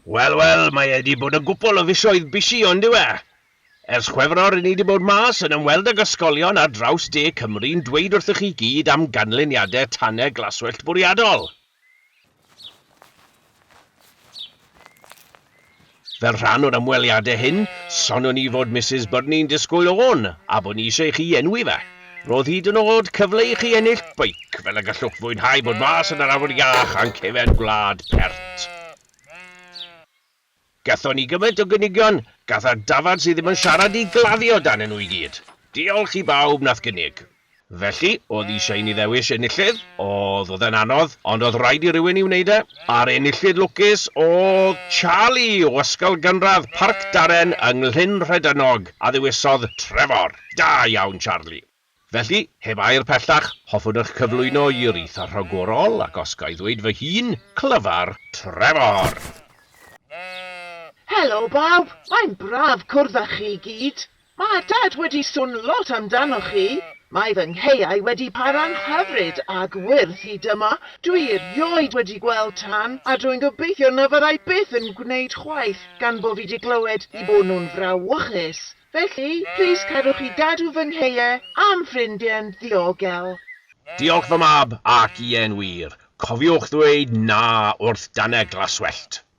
Wel, wel, mae wedi bod yn gwpl o fisoedd bisi ond yw e? Ers Chwefror i ni wedi bod mas yn ymweld ag ysgolion ar draws de Cymru'n dweud wrthych chi gyd am ganlyniadau tanau glaswellt bwriadol. Fel rhan o'r ymweliadau hyn, sonion ni fod Misus Byrne'n disgwyl ofn a bod ni eisiau i chi enwi fe. Roedd hyd yn oed cyfle i chi ennill beic fel y gallwch fwynhau bod mas yn yr awyr iach a'n cefn gwlad pert. Gathon ni gymaint o gynigion, gatha'r dafarn sydd ddim yn siarad i gladdu o danyn nhw i gyd. Diolch i bawb nath gynnig. Felly, oedd isha i ni ddewis enillydd, oedd oedd e'n anodd, ond oedd raid i rywun i wneud e. A'r enillydd lwcus oedd Charlie o Ysgol Gynradd Parc Darren yng Nglyn Rhedynog, a ddewisodd Trevor. Da iawn Charlie. Felly, heb air pellach, hoffwn eich cyflwyno i wreithiwr rhagorol, ac os ga i ddweud fy hun, Clyfar Trevor! Helo bawb! Mae'n braf cwrdd â chi i gyd! Mae Dad wedi sôn lot amdanoch chi! Mae fy ngheuau wedi para'n hyfryd ac wyrdd hyd yma! Dwi erioed wedi gweld tân, a dwi'n gobeithio na fyddai byth yn gwneud chwaith, gan bo fi 'di clywed 'u bod nhw'n frawychus! Felly, plîs cerwch i Dadw fy ngheuo a'm ffrindie yn ddiogel. Diolch fy mab, ac ie'n wir, cofiwch ddweud 'na' wrth danau glaswellt.